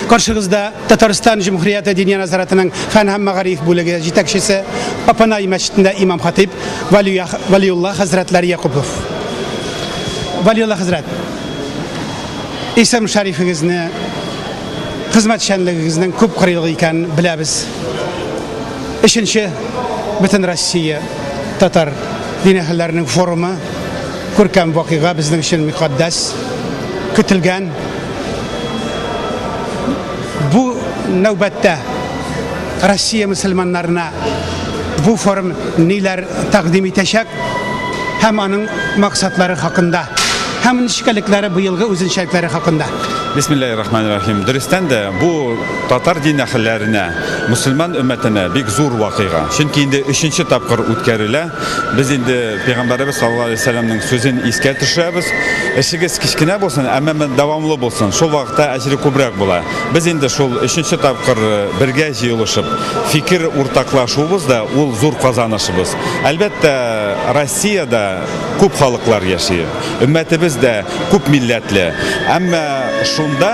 Каршыгызда Татарстан Җөмһүрияте Диния назаратының фән һәм мәгариф бүлеге җитәкчесе, Апанай мәчетендә имам-хатыйб Валиулла хәзрәтләр Якупов. Валиулла хәзрәт, исем-шәрифегезне, хезмәтчәнлегегезнең күп кырыйлы икән беләбез. Өченче бөтен Россия татар дин әһелләренең форумы күркәм вакыйга безнең өчен мөхәддәс, көтелгән Бу нәүбәттә Россия мөселманнарына бу форум ниләр тәкъдим итәчәк һәм аның максатлары хакында һәм нечкәлекләре быелгы үзенчәлекләре хакында. Бисмиллахи рахмани рахим. Дөрестән дә бу татар дин әһелләренә, мөселман өммәтенә бик зур вакыйга. Чөнки инде өченче тапкыр үткәрелә. Без инде пәйгамбәребез саллаллаһу алейһи ва сәлләмнең сүзен искә төшерәбез, Эшегез кечкенә булсын, әмма дәвамлы булсын, шул вакытта әҗере күбрәк була. Без инде шул өченче тапкыр бергә җыелышып, фикер уртаклашуыбыз да ул зур казанышыбыз. Әлбәттә, Россиядә күп халыклар яши. Өммәтебез дә күп милләтле. Әмма шунда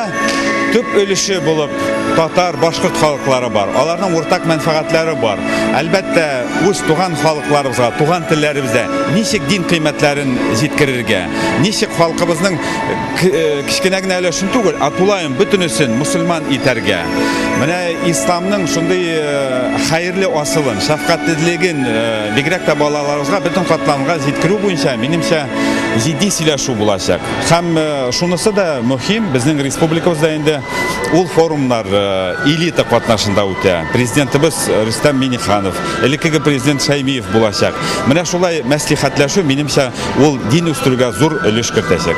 төп өлеше булып татар, башкорт халыклары бар. Аларның уртак мәнфәгатьләре бар. Әлбәттә, үз туган халыкларыбызга, туган телләребездә ничек дин кыйммәтләрен җиткерергә, ничек халкыбызның э, кечкенә генә өлешен түгел, ә тулаем бөтенесен мусульман итәргә. Менә исламның шундый э, хәерле асылын, шәфкатьлелеген э, Бигрәк тә балаларыбызга бөтен катламга җиткерү буенча, минемчә, җитди сөйләшү булачак. Һәм шунысы да мөһим, безнең республикабызда инде ул форумнар элита катнашында үтә. Президентыбыз Рөстәм Миңнеханов, элеккеге президент Шәймиев булачак. Менә шулай мәслихәтләшү, минемчә, ул дин үстерүгә зур өлеш кертәчәк.